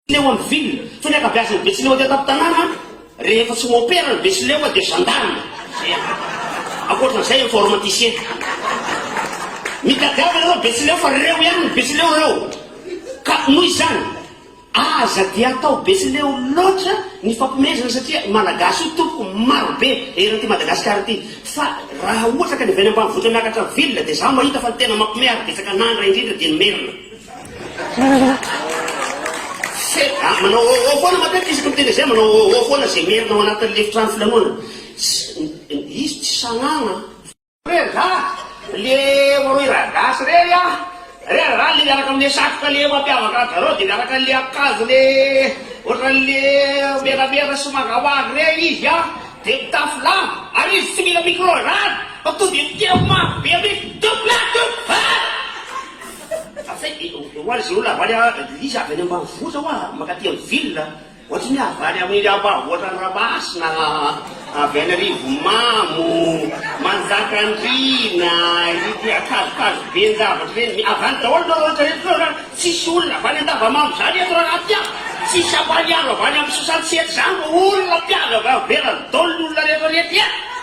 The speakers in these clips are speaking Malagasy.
Teo amin'ny ville, fa ny ankabeazan'ny Betsileo aty an-tampon-tanàna rehefa tsy mi-opera ny Betsileo dia gendarme. Zay an. Ankoatran'izay informaticien. Mitadiava ianareo Betsileo fa reo ihany ny Betsileo reo. Ka noho izany, aza dia atao Betsileo loatra ny fampihomezana satria Malagasy io tompoko maro be eran'ity Madagasikara ity. Fa raha ohatra ka ny avy any ambanivohitra miakatra ville dia izaho mahita fa ny tena mampihomehy ary betsaka an'Andra indrindra dia ny Merina. Ah, manao oh oh foana matetika isaky ny télé manao oh oh foana izay merina ao anatin'ny efitrano filanonana. Izy tsy sanagna. Re ra, le rohy ra gasy re a, re ra le miaraka amle satroka le mampiavaka anjareo de miaraka amle akanjo le ohatranle menamena sy mangamanga re izy a, de mitafy lamba, ary izy tsy mila micro ra fa tonga de miteny mafy be mintsy, double double. Fa zay de hoazy izao olona havaly a, Lisa avy any ambanivohitra hoa mankaty amin'ny ville, ohatran'ny hoe havaly amin'ny ambanivohitran'i Ramasina, avy any Rivomamo, Manjakandriana, ity akazokazo ben-javatra ireny, avy any daholo ireo rehetra rehetra ireo ra, tsisy olona avy any Andavamamba izany eto ra raha ty a, tsisy Ampaniaro avy any amin'ny Sosantsety izany, olona mpiavy avy any ivelany daholo ny olona rehetra rehetra e!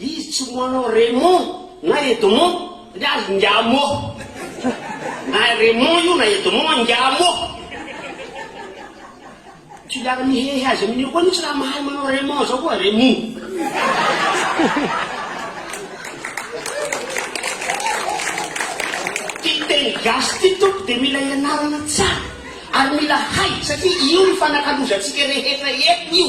Izy tsy ho anao Raymond na Edmond ndry azy ngia mô! Na Raymond io na Edmond an ngia mô! Tsy hiara mihehy azy amin'io koa mihitsy raha mahay manao Raymond zao koa Raymond. Ty teny gasy ty tompoko dia mila ianarana tsara ary mila hay satria io no fanakalozantsika rehetra eto io.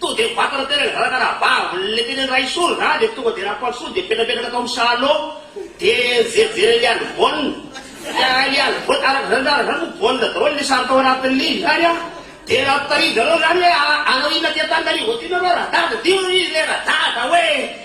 Tonga dia mivantana tena ilay zanaka rahavavy, ilay teny Andraisoro zany dia tonga dia Rampantsoa dia mipetrapetraka tao amin'ny salon dia nijerijery an'i Alibona, ka i Alibona, araka izany zany, izany moa baolina daholo ilay sary tao anatin'ny ligne izany an, dia raha notahirizareo izany hoe hanao inona aty Antananarivo aty nareo, Radada, dia hoy izy hoe Radada hoe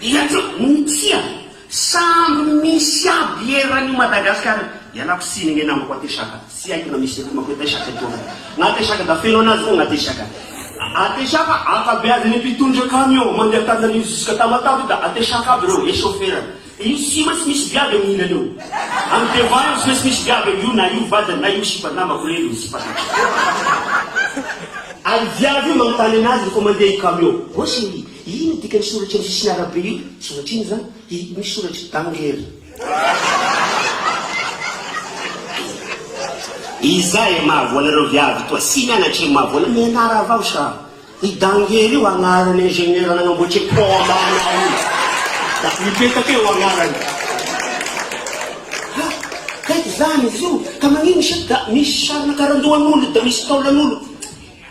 Dia aza mitia samby misy aby eran io Madagascar io. Ialako tsiny nge namako atesaka tsy haiko na misy akomako atesaka eto aho na atesaka da feno anazy fogna atesaka atesaka ankabeazany mpitondra camion mandeha antananarivo jusque tamatave io da atesaka aby reo et chauffeur any de io tsy maintsy misy viavy aminy ilany eo any devant eo tsy maintsy misy viavy aminy io na io vadiny na io sipa namako reny io sipa satriko ary viavy io manontany anazy refa mandeha io camion ô cherie Ino ny dikan'ny soratra amin'ny sisin'ny arabe io? Soratra ino izany? Hi, misy soratry Danger. Iza e mahavoana ireo viavy toa sy mianatry ny mahavoana mianara avao sa i Danger io agnaran'ny ingénieur nagnamboatry e pont ana io da mipetaka eo agnarany ha kay zany izy io ka magnino sa da misy sarina karandohan'olo da misy taolan'olo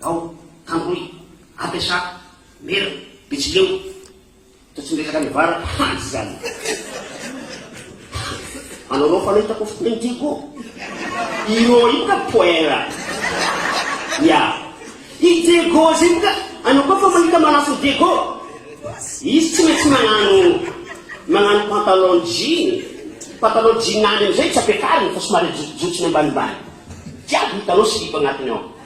Vao, Tangoy, Apesa, Mera, Betsileo, toa tsy miresaka ny vary hany zany. Anao anao fa nahitako fotoana inty ko. Iro io ka poera. Ya. I Diego zay ka anao koa fa mahita manafo Diego. Izy tsy maintsy magnano magnano pantalon jean. Pantalon jean any amizay tsy ampiakariny fa somary ajotsojotsony ambanimbany. Jiaby hitanao silipo agnatiny ao.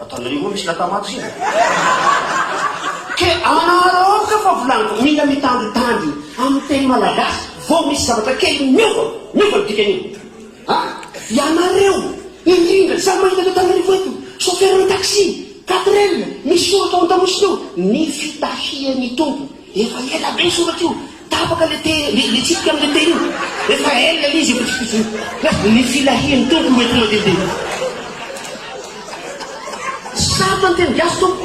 Ataonareo moa misy latamate zay e! Ke araoka fa volaniko, mila mitandritandry amin'ny teny malagasy vao misy zavatra kely miova, miova ny dikan'io. A! Ianareo, indrindra izany mahita an'i Antananarivo eto, chauffeur-n'ny taxi, quatrelle, misy soratra ao an-damosina eo, ny fitahian'ny Tompo. Efa ela be io soratra io. Tapaka le te le tsipika am le tehina efa ela le izy efa tsy fotsiny fa ny filahian'ny Tompo no ety mandehandeha eo. Tsy sarotra ny teny gasy Tompo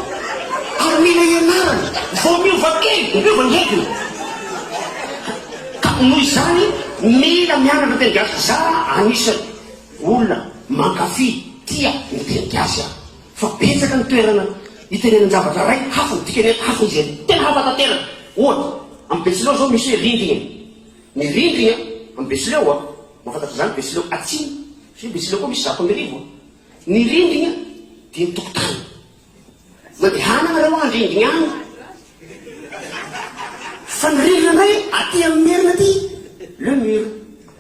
ary mila ianarana vao miova kely dia miova ny hediny ka noho izany mila mianatra teny gasy za anisany olona mankafy, tia ny teny gasy aho. Fa betsaka ny toerana itenenan-javatra iray hafa ny dikany hoe hafa izy ireny. Tena hafa tanteraka. Ohatra, amin'ny Betsileo izao misy hoe rindrina. Ny rindrina amin'ny Betsileo, mahafantatra izany Betsileo Atsimo, satria Betsileo koa misy zato amby arivo. Ny rindrina dia ny tokotany. Mandehana nareo any rindrina any. Fa ny rindrina indray aty amin'ny Merina aty, le mur.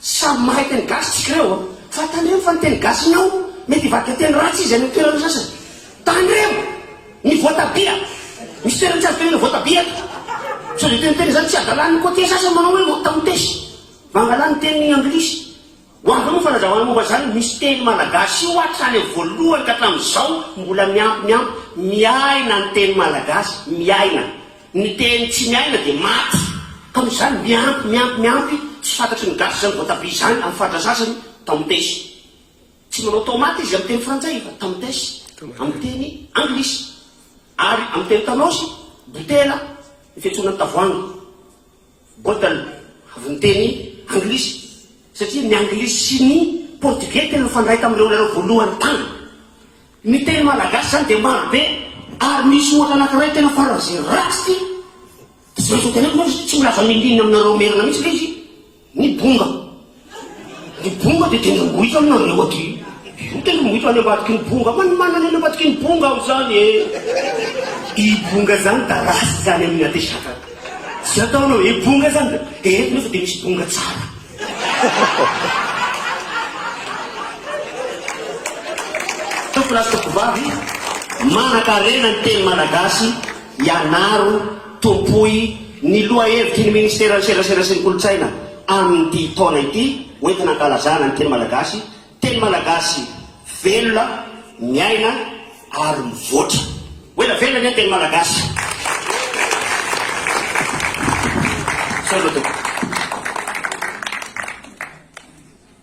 Tsy samy mahay teny gasy tsika ireo an! Fa tandremo fa ny teny gasinao mety hivadika teny ratsy izy any amin'ny toerana sasany. Tandremo! Ny voatabia! Misy toerana tsy azo tenenina voatabia eto. Sao dia teniteny izany tsy hadalany ny côtiers sasany manao hoe motamotes. Mangalà ny teny anglisy. Ho avy eo ny fanazavana momba izany, misy teny malagasy io hatrany amin'ny voalohany ka hatramin'izao mbola miampy miampy miaina ny teny malagasy. Miaina. Ny teny tsy miaina dia maty. Ka noho izany miampy, miampy, miampy, tsy fantatry ny gasy izany voatabia izany amin'ny faritra sasany, tamatesy. Tsy manao tomate izy amin'ny teny frantsay fa tamatesy amin'ny teny anglisy. Ary amin'ny teny tanosy, botela, ny fiantsoana ny tavoahangy. Botan, avy ny teny anglisy, satria ny anglisy sy ny portugais tena nifandray tamin'ireo lalao voalohany tany. Ny teny malagasy izany dia maro be, ary misy ohatra anankiray tena faran'izay ratsy, dia tsy maintsy ho teneniko, tsy ho lazamin'ny inona aminareo merina mihitsy ilay izy, ny bonga. Ny bonga dia tena mbohitra aminareo aty. Io tena mbohitra any ambadiky ny bonga. Fa ny manana any ambadiky ny bonga aho izany eh. I bonga izany da ratsy izany amin'ny atesaka. Tsy ataonao hoe bonga izany da dia eto nefa dia misy bonga tsara. Tompon'asa Tompovavy, manan-karena ny teny malagasy ianaro. Tompoy ny lohahevitry ny Ministeran'ny Serasera sy ny Kolontsaina amin'ity taona ity hoentina hankalazana ny teny malagasy, teny malagasy velona, miaina ary mivoatra. Ho ela velona anie ny teny malagasy. Misaotra tompoko.